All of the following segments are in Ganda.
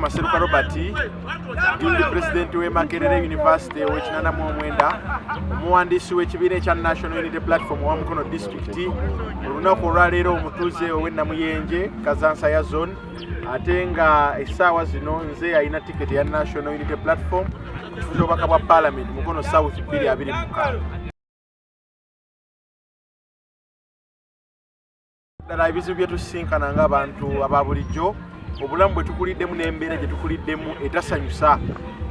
Maseruka Robert ndi pulezidenti w'e Makerere University ow'ekinana mu omwenda omuwandiisi w'ekibiina ekya National Unity Platform owa Mukono disitulikiti olunaku olwaleero omutuuze ow'e Namuyenje Kazansa ya zone ate nga essaawa zino nze yalina tiketi ya national unity platform okufuza obubaka bwa palamenti mukono south 225 ddala ebizibu byetusisinkana nga abantu aba bulijjo obulamu bwe tukuliddemu n'embeera gye tukuliddemu etasanyusa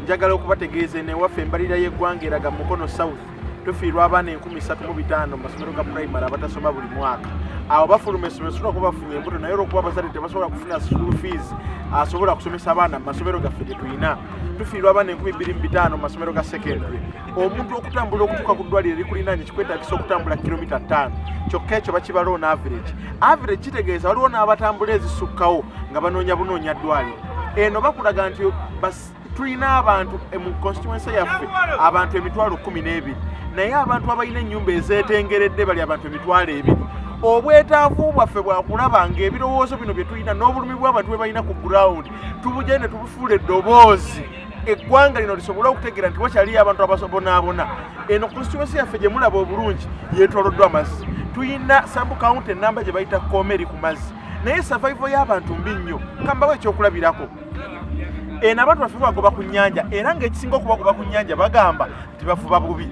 njagala okubategeeza enewaffe embalirira y'eggwanga eraga mukono south tufiirwa abaana enkumi satu mu bitaano mu masomero ga primary abatasoma buli mwaka awo bafuluma essomero sobola kuba bafunye embuto naye olwokuba abazadde tebasobola kufuna school fees asobola kusomesa abaana mu masomero gaffe tetulina tufiirwa abaana enkumi bbiri mu bitaano mu masomero ga secondary omuntu okutambula okutuuka ku ddwaliro likulinaanye kikwetagisa okutambula kilomita ttaano kyokka ekyo bakibaloona average average kitegeeza waliwo n'abatambula ezisukkawo nga banoonya bunoonya ddwaliro eno bakulaga nti tulina abantu eh, mu constituency yaffe abantu emitwalo kumi n'ebiri naye abantu abalina ennyumba ezeetengeredde bali abantu emitwalo ebiri obwetaavu bwaffe bwakulaba ngaebirowoozo bino bye tulina n'obulumi bw'abantu bwe balina ku gurawundi tubugende ne tubufuula eddoboozi eggwanga lino lisobole okutegeera nti wakyaliyo abantu abasobonaabona eno constituency yaffe gye mulaba obulungi yeetooloddwa amazzi tulina sabu kawunti ennamba gye bayita kooma eri ku mazzi naye survival y'abantu mbi nnyo kambawo ekyokulabirako eno abantu baffe bagoba ku nnyanja era ng'ekisinga okubagoba ku nnyanja bagamba nti bavuba bubi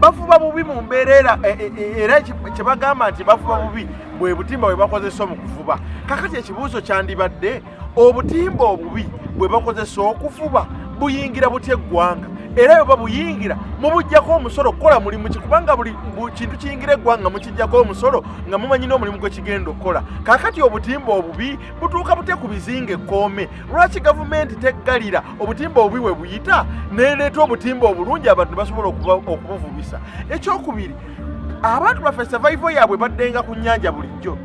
bavuba bubi mu mbeera era e, e, e, era kye bagamba nti bavuba bubi bwe butimba bwe bakozesa mu kuvuba kakati ekibuuzo kyandibadde obutimba obubi bwe bakozesa okuvuba buyingira butya eggwanga era bwe babuyingira mubugyako omusolo okukola mulimu ki kubanga buli kintu kiyingira eggwanga mukigyako omusolo nga mumanyi n'omulimu gwe kigenda okukola kaakati obutimba obubi butuuka bute ku bizinga ekkoome lwaki gavumenti teggalira obutimba obubi we buyita neleeta obutimba obulungi abantu basobola okubuvubisa ekyokubiri abantu baffe savaivo yaabwe baddenga ku nnyanja bulijjo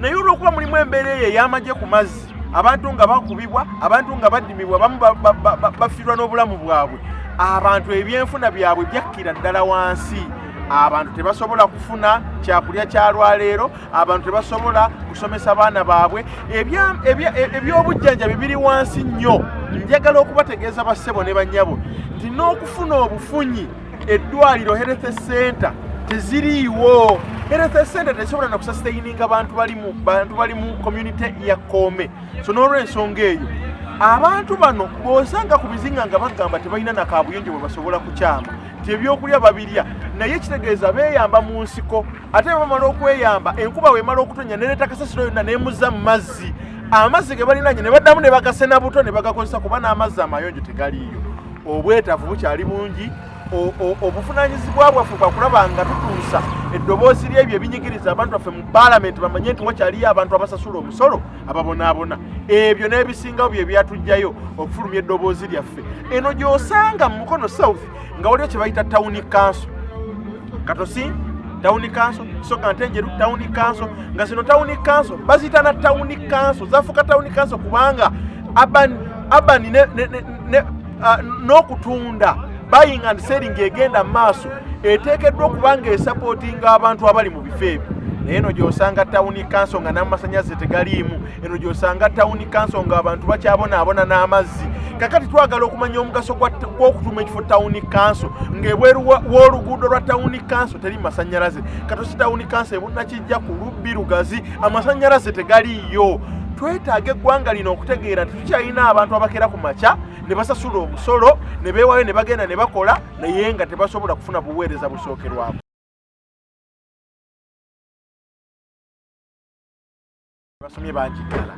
naye olwokuba mulimu embeera eyo ey'amagye ku mazzi abantu nga bakubibwa abantu nga badimibwa bamu bafiirwa n'obulamu bwabwe abantu ebyenfuna byabwe byakkira ddala wansi abantu tebasobola kufuna kyakulya kyalwaleero abantu tebasobola kusomesa baana baabwe ebyobujjanjabi biri wansi nnyo njagala okubategeeza bassebo ne bannyabo nti n'okufuna obufunyi eddwaliro health center teziriiwo health center tesobola nakusasitaininga bantu balimu bantu bali mu community ya koome so n'olwensonga eyo abantu bano bosanga ku bizinga nga bagamba tebalina nakabuyonjo bwe basobola kukyama ti ebyokulya babirya naye kitegeeza beyamba mu nsiko ate bamala okweyamba enkuba wemala okutonya nereeta kasasiro yonna nemuza mu mazzi amazzi ge balinanye ne baddamu ne bagasena buto ne bagakozesa kuba n'amazzi amayonjo tegaliiyo obwetaavu bukyali bungi obuvunanyizibwa bwaffe bwakulaba nga tutuusa eddoboozi lyebyo ebinyigiriza abantu baffe mu paalamenti bamanye nti wakyaliyo abantu abasasula omusolo ababonaabona ebyo n'ebisingawo bye byatugjayo okufulumya eddoboozi lyaffe eno gy'osanga mu mukono south nga waliwo kye bayita tawuni kanso Katosi tawuni kanso soka ntenjeru tawuni kanso nga zino tawuni kanso baziyita na tawuni kanso zafuuka tawuni kanso kubanga abani abani ne, ne, ne, ne, uh, n'okutunda buying and selling egenda mu maaso eteekeddwa okuba nga esapootinga abantu abali mu bifo ebyo naye no gyosanga tawuni kanso nga n'amasanyalaze tegaliimu eno gyosanga tawuni kanso nga abantu bakyabonaabona n'amazzi kakati twagala okumanya omugaso gw'okutuma ekifo tawuni kanso ng'ebweru w'oluguudo lwa tawuni kanso teri masanyalaze katosi tawuni kanso ebunakijja ku lubbi lugazi amasanyalaze tegaliiyo twetaaga eggwanga lino okutegeera nti tukyalina abantu abakera ku makya ne basasula omusolo ne beewayo ne bagenda ne bakola naye nga tebasobola kufuna buweereza busookerwako basomye bangi ddala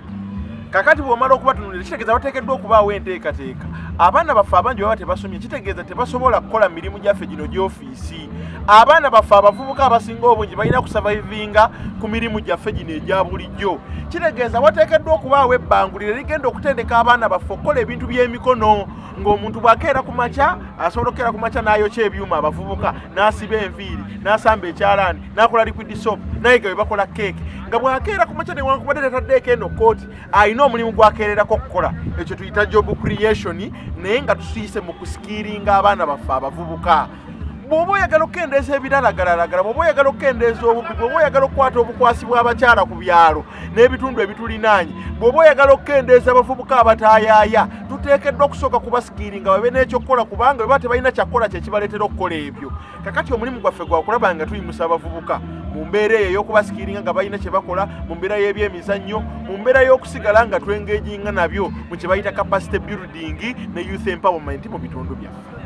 kakati bwomala okubatunulira kitegeeza bateekeddwa okubaawo enteekateeka abaana baffe abangi baba tebasomye kitegeeza tebasobola kukola mirimu gyaffe gino gyofiisi abaana baffe abavubuka abasinga obungi balina kusavaivinga ku mirimu gyaffe gino egya bulijjo kitegeeza wateekeddwa okubaawo ebbangulire ligenda okutendeka abaana baffe okukola ebintu by'emikono ng'omuntu bw'akeera ku makya asobola okukeera ku makya n'ayokya ebyuma abavubuka n'asiba enviiri n'asamba ekyalaani nakola liquid soap naye nga webakola keeke nga bwakeera ku makya newankubadde tataddeeko eno kooti alina omulimu gwakeererako okukola ekyo tuyita job creation naye nga tusiyise mu kusikiiringa abaana baffe abavubuka bwoba oyagala okukendeeza ebiralagalalagala bwoba oyagala okukendeeza obubbi bwoba oyagala okukwata obukwasi bw'abakyala ku byalo n'ebitundu ebitulinaanye bwoba oyagala okukendeeza abavubuka abataayaaya tuteekeddwa okusooka kubasikiiringa babe n'ekyokukola kubanga beba tebalina kyakukola kyekibaleetera okukola ebyo kakati omulimu gwaffe gwakulaba nga tuyimusa abavubuka mu mbeera eyo ey'okubasikiringa nga balina kye bakola mu mbeera y'ebyemizannyo mu mbeera y'okusigala nga twengejinga nabyo mu kye bayita capacity building ne youth empowerment mu bitundu byaffe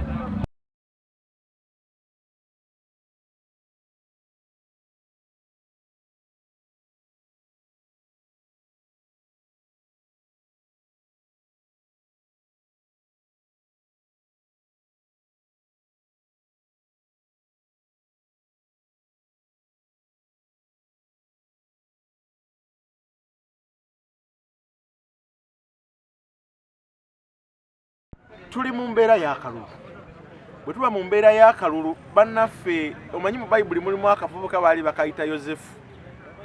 tuli mu mbeera y'akalulu bwe tuba mu mbeera y'akalulu bannaffe omanyi mu bayibuli mulimu akavubuka baali bakayita yosefu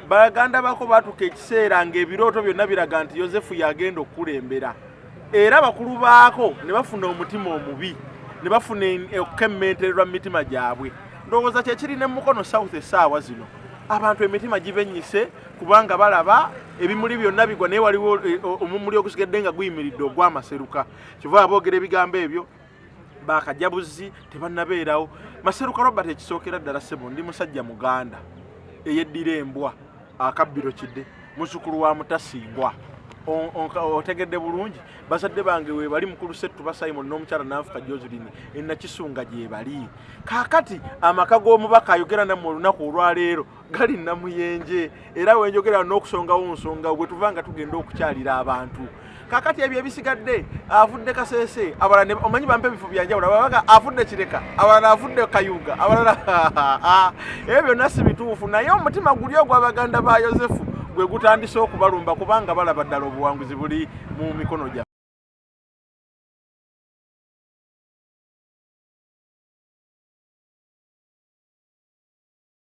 baganda bako batuka ekiseera ng'ebirooto byonna biraga nti yosefu yagenda okukulembera era bakulu baako ne bafuna omutima omubi ne bafuna okukemmentererwa mu mitima gyabwe ndowooza kyekiri ne mukono south esaawa zino abantu emitima gibenyise kubanga balaba ebimuli byonna bigwa naye waliwo eh, omumuli ogusigedde nga guyimiridde ogwamaseruka kyova aboogera ebigambo ebyo bakajabuzi tebanabeerawo maseruka robert ekisookera ddala sebo ndi musajja muganda eyeddira embwa akabbiro kide muzukulu wa mutasingwa otegedde bulungi bazadde bange webali mukulu settu basimon n'omukyala nanfuka joselin enakisunga gyebali kakati amaka g'omubaka ayogera nammwe olunaku olwaleero gali namuyenje era wenjogera n'okusongawo nsonga gwe tuva nga tugenda okukyalira abantu kakati ebyo ebisigadde avudde kasese abalala omanyi bampa ebifo byanjawulo ababaga avudde kireka abalala avudde kayuga abalala ebyo byonna si bituufu naye omutima guli ogw'abaganda ba yosefu gwe gutandise okubalumba kubanga balaba ddala obuwanguzi buli mu mikono gya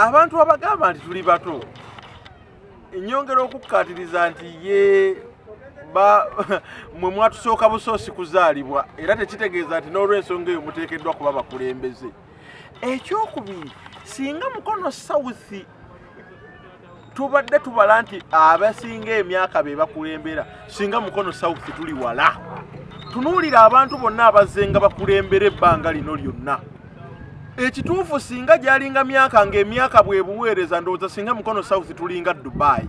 abantu abagamba nti tuli bato enyongera okukkaatiriza nti ye mwe mwatusooka busoosi kuzaalibwa era tekitegeeza nti n'olwensonga eyo muteekeddwa kuba bakulembeze ekyokubiri singa mukono south tubadde tubala nti abasinga emyaka be bakulembera singa mukono south tuli wala tunuulira abantu bonna abazenga bakulembera ebbanga lino lyonna ekituufu singa gyalinga myaka ngaemyaka bwebuweereza ndowooza singa mukono south tulinga dubai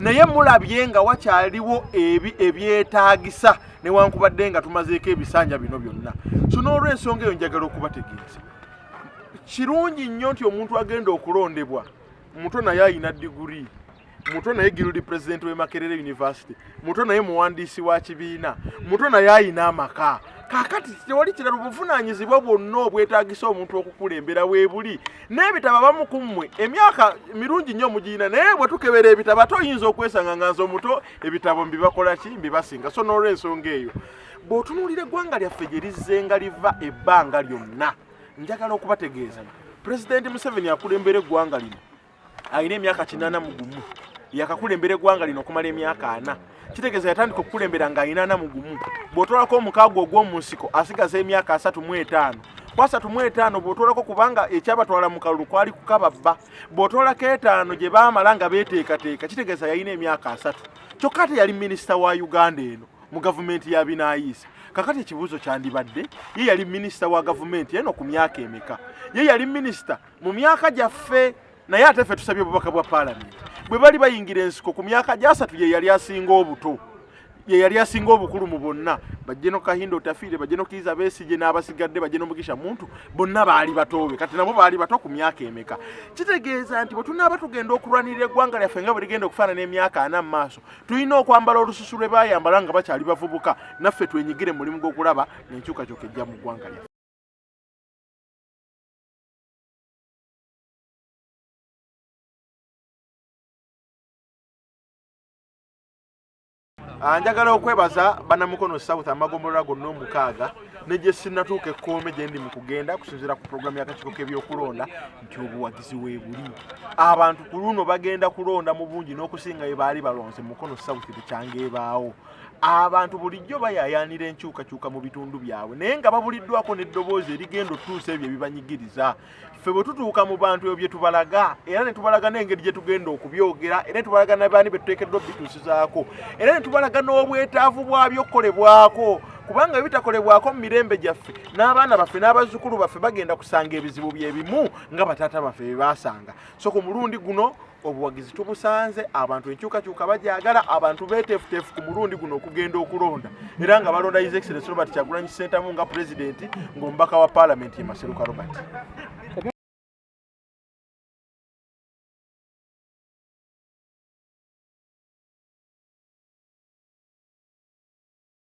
naye mulabye nga wakyaliwo ebi ebyetaagisa newankubadde nga tumazeeko ebisanja bino byonna so n'olwensonga eyo njagala okubategeeza kirungi nnyo nti omuntu agenda okulondebwa muto naye ayina degree muto naye guild president we makerere university muto naye muwandiisi wa kibiina muto naye ayina amaka kakati tewali kirala obuvunanyizibwa bwonna obwetagisa omuntu okukulembera webuli n'ebitabo abamu ku mmwe emyaka mirungi nnyo mugirina naye bwe tukebera ebitabo ate oyinza okwesanga nga nze omuto ebitabo mbibakola ki mbibasinga so n'olwensonga eyo bw'otunuulira eggwanga lyaffe gye lizzenga liva ebbanga lyonna njagala okubategeeza pulezidenti museveni akulembera eggwanga lino alina emyaka kinaana mu gumu yakakulembera eggwanga lino okumala emyaka ana kitegeeza yatandika okukulembera nga alina ana mu gumu bw'otwalako omukaago ogw'omu nsiko asigaza emyaka asatu mu etaano kwasatu mu etaano bw'otwalako kubanga ekyabatwala mu kalulu kwali kukababba bw'otwalako etaano gye baamala nga beeteekateeka kitegeeza yalina emyaka asatu kyokka ate yali minisita wa uganda eno mu gavumenti ya binaayiisa kakati ekibuuzo kyandibadde ye yali minisita wa gavumenti eno ku myaka emeka ye yali minisita mu myaka gyaffe naye ate ffe tusabye obubaka bwa paalamenti bwe bali bayingira ensiko ku myaka gyasatu ye yali asinga obuto ye yali asinga obukulu mu bonna bajje no kahinda otafiire bajje no kiiza besigye n'abasigadde bajje no mugisha muntu bonna baali batoobe kati nabo baali bato ku myaka emeka kitegeeza nti bwe tunaaba tugenda okulwanirira eggwanga lyaffe nga bwe ligenda okufaanana emyaka ana mu maaso tulina okwambala olususu lwe baayambala nga bakyali bavubuka naffe twenyigire mulimu gw'okulaba n'enkyukakyuka ejja mu ggwanga lyaffe Ah, njagala okwebaza banamukono south amagombolola gonna omukaaga negyesinatuuka ekkoome gyendi mu kugenda kusinzira ku pulogulaamu y'akakiiko k'ebyokulonda nti obuwagizi weebuli abantu ku luno bagenda kulonda mu bungi n'okusinga bye baali balonze mu mukono south bukyanga ebaawo abantu bulijjo bayayaanira enkyukakyuka mu bitundu byabwe naye nga babuliddwako n'eddoboozi erigenda otutuusa ebyo ebibanyigiriza ffe bwe tutuuka mu bantu ebyo bye tubalaga era ne tubalaga n'engeri gye tugenda okubyogera era ne tubalaga nabaani be tuteekeddwa obituusizaako era ne tubalaga n'obwetaavu bwabyo okukolebwako kubanga ebitakolebwako mu mirembe gyaffe n'abaana baffe n'abazzukulu baffe bagenda kusanga ebizibu bye bimu nga bataata baffe bye baasanga so ku mulundi guno obuwagizi tubusanze abantu enkyukakyuka bagyagala abantu betefutefu ku mulundi guno okugenda okulonda era nga balonda his excellence robert kyagulanyi sentamu nga pulezidenti ng'omubaka wa paalamenti ye maseruka robert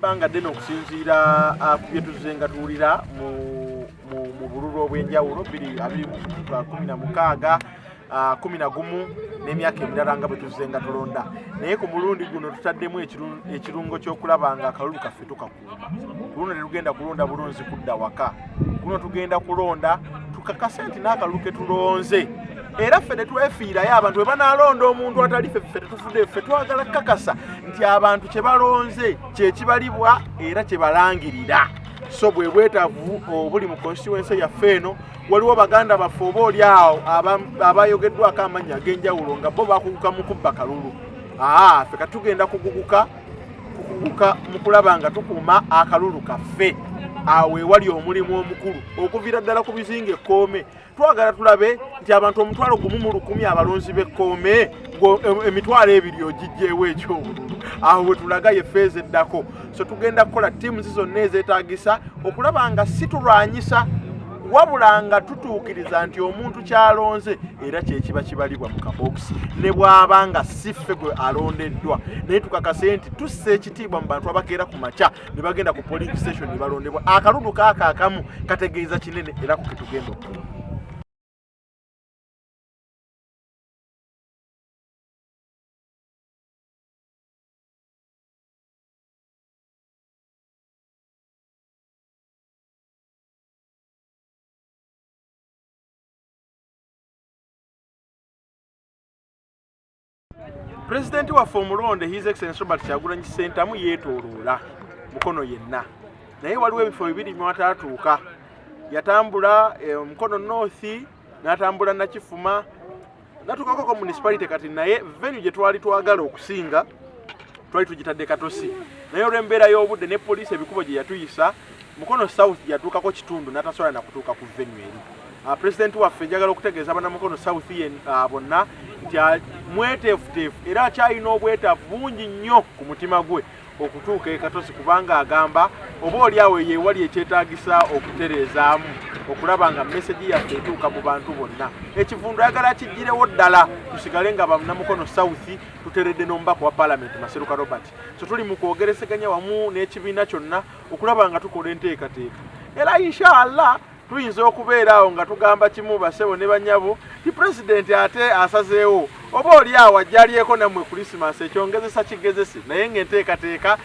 ebbanga ddene okusinziira ah, ku bye tuzze nga tuwulira mu bululu obw'enjawulo biri abiri kumi na mukaaga ah, kumi na gumu n'emyaka emirala nga bwe tuzze nga tulonda naye ku mulundi guno tutaddemu ekirungo ky'okulaba nga akalulu kaffe tukakuuma ku luno ne lugenda kulonda bulunzi kudda waka kuno tugenda kulonda tukakase nti n'akalulu ke tulonze era ffe tetwefiirayo abantu bwe banaalonda omuntu atali fe ffe tetufudde ffe twagala kukakasa nti abantu kye balonze kye kibalibwa era kye balangirira so bwe bwetavu obuli mu konstituense yaffe eno waliwo baganda baffe oba oli awo abayogeddwako amannya ag'enjawulo nga bo bakuguka mu kubba kalulu aa ffe katugenda kuguguka kukuguka mu kulaba nga tukuuma akalulu kaffe awo ewali omulimu omukulu okuviira ddala ku bizinga ekkoome twagala tulabe nti abantu omutwalo gumu mu lukumi abalonzi b'ekkoome emitwalo ebiri ogijjeewo ekyobululu awo wetulaga yefeeza eddako so tugenda kukola tiimuzi zonna ezeetagisa okulaba nga si tulwanyisa wabula nga tutuukiriza nti omuntu kyalonze era kyekiba kibalibwa mu kabokisi ne bwaba nga si ffe gwe alondeddwa naye tukakase nti tussa ekitiibwa mu bantu abakeera ku makya ne bagenda ku polling station ne balondebwa akalulu kaako akamu kategeeza kinene era ku ketugenda okula pulezidenti waffe omulonde his excellence robert kyagulanyi ssentamu yeetooloola mukono yenna naye waliwo ebifo bibiri mwataatuuka yatambula eh, mukono north n'atambula nakifuma natukako ko municipality kati naye venue gye twali twagala okusinga twali tugitadde katosi naye olw'embeera y'obudde ne poliisi ebikubo gye yatuyisa mukono south yatuukako kitundu natasobola nakutuuka ku venue eri ah, president waffe njagala okutegeeza bana mukono south yen ah, bonna nti ah, mweteefuteefu era akyalina obwetaavu bungi nnyo ku mutima gwe okutuuka e Katosi kubanga agamba oba oli awo yeewali ekyetaagisa okutereezaamu okulaba nga mesegi yaffe etuuka mu bantu bonna ekivundu ayagala kigirewo ddala tusigale nga banamukono south tuteredde n'omubaka wa palamenti maseruka robert so tuli mu kwogereseganya wamu n'ekibiina kyonna okulaba nga tukola enteekateeka era inshaallah tuyinza okubeera awo nga tugamba kimu basebo ne banyabo ti pulezidenti ate asazeewo oba oli awo ajjalyeko nammwe kulisimansi ekyongezesa kigezesi naye ngaenteekateeka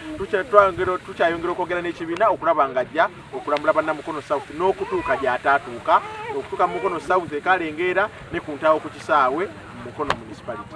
tukyayongera okwogera n'ekibiina okulaba nga ajja okulambula bannamukono south n'okutuuka gyataatuuka okutuuka mumukono south ekalengeera ne ku ntaawo ku kisaawe mumukono municipality